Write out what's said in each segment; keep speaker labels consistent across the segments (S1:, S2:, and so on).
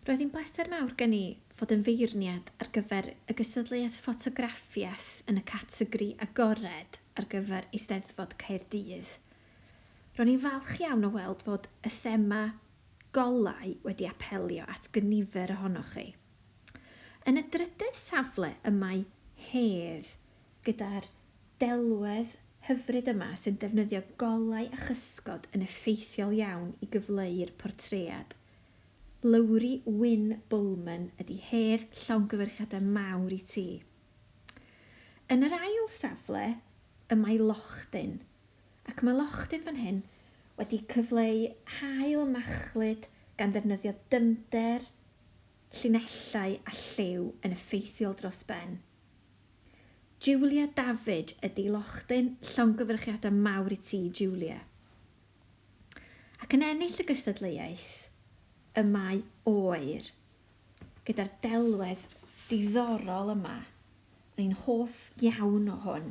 S1: Roedd hi'n bleser mawr gen i fod yn feirniad ar gyfer y gystadleuaeth ffotograffiaeth yn y categori agored ar gyfer Eisteddfod Caerdydd. Ro'n i'n falch iawn o weld fod y thema 'Golau' wedi apelio at gynifer ohonoch chi. Yn y drydedd safle y mae 'Hedd' gyda'r delwedd hyfryd yma sy'n defnyddio golau a chysgod yn effeithiol iawn i gyfleu'r portread. Lowri Wyn Bulman ydi hedd llongyfarchiadau mawr i ti. Yn yr ail safle y mae Lochden ac mae Lochden fan hyn wedi cyfleu haul machlud gan ddefnyddio dyfnder, llinellau a lliw yn effeithiol dros ben. Julia David ydi Lochden llongyfarchiadau mawr i ti Julia. ac yn ennill y gystadleuaeth y mae oer gyda'r delwedd diddorol yma, o'n i'n hoff iawn o hwn,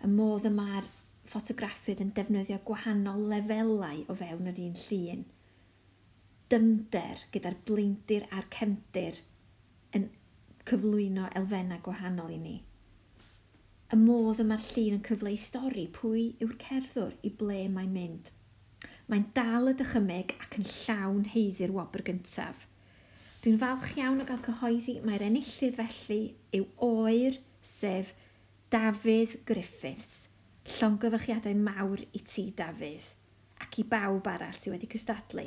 S1: y modd y mae'r ffotograffydd yn defnyddio gwahanol lefelau o fewn yr un llun. dyfnder gyda'r blaendir a'r cefndir yn cyflwyno elfennau gwahanol i ni. Y modd y mae'r llun yn cyfleu stori pwy yw'r cerddwr, i ble mae'n mynd. Mae'n dal y dychymyg ac yn llawn haeddu'r wobr gyntaf. Dwi'n falch iawn o gael cyhoeddi mai'r enillydd felly yw oer, sef Dafydd Griffiths. Llongyfarchiadau mawr i ti, Dafydd. ac i bawb arall sydd wedi cystadlu.